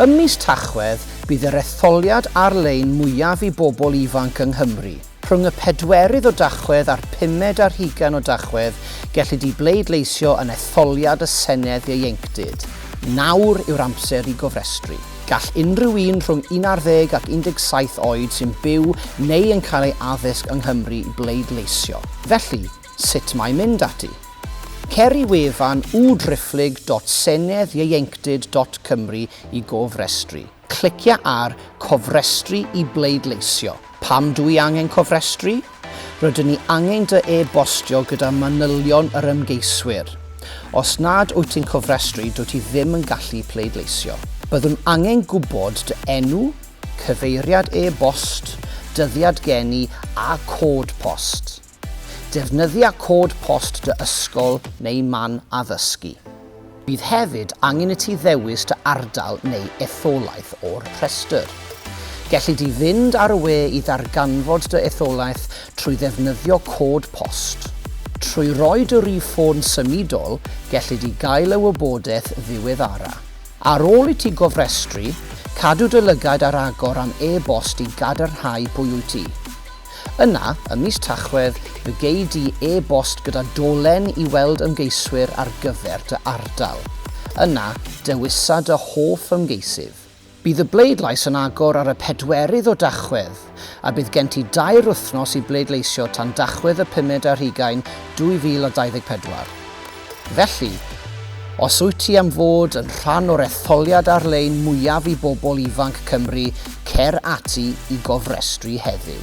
Ym mis Tachwedd, bydd yr etholiad ar-lein mwyaf i bobl ifanc yng Nghymru. Rhwng y pedwerydd o Dachwedd a'r pumed ar hugain o Dachwedd, gellid i bleidleisio yn etholiad y Senedd Ieuenctid. Nawr yw'r amser i gofrestru. Gall unrhyw un rhwng un ar ddeg ac 17 oed sy'n byw neu yn cael ei addysg yng Nghymru bleidleisio. Felly, Sut mae mynd ati? Cer i wefan udriphlyg.senedd-ieuenctid.cymru i gofrestru. Clicia ar Cofrestru i bleidleisio. Pam dw i angen cofrestru? Rydyn ni angen dy e-bostio gyda manylion yr ymgeiswyr. Os nad wyt ti'n cofrestru, dwyt ti ddim yn gallu pleidleisio. Byddwn angen gwybod dy enw, cyfeiriad e-bost, dyddiad geni a cod post. Defnyddia cod post dy ysgol neu man addysgu. Bydd hefyd angen i ti ddewis dy ardal neu etholaeth o'r rhestr. Gelli di fynd ar y we i ddarganfod dy etholaeth trwy ddefnyddio cod post. Trwy roi dy rif ffôn symudol, gelli di gael y wybodaeth ddiweddara. Ar ôl i ti gofrestru, cadw dy lygaid ar agor am e-bost i gadarnhau pwy wyt ti. Yna, ym mis Tachwedd, fe gei di e-bost gyda dolen i weld ymgeiswyr ar gyfer dy ardal. Yna, dewisa dy hoff ymgeisydd. Bydd y bleidlais yn agor ar y pedwerydd o Dachwedd, a bydd gen ti dair wythnos i bleidleisio tan Dachwedd y pumed ar hugain 2024. Felly, os wyt ti am fod yn rhan o'r etholiad ar-lein mwyaf i bobl ifanc Cymru, cer ati i gofrestru heddiw.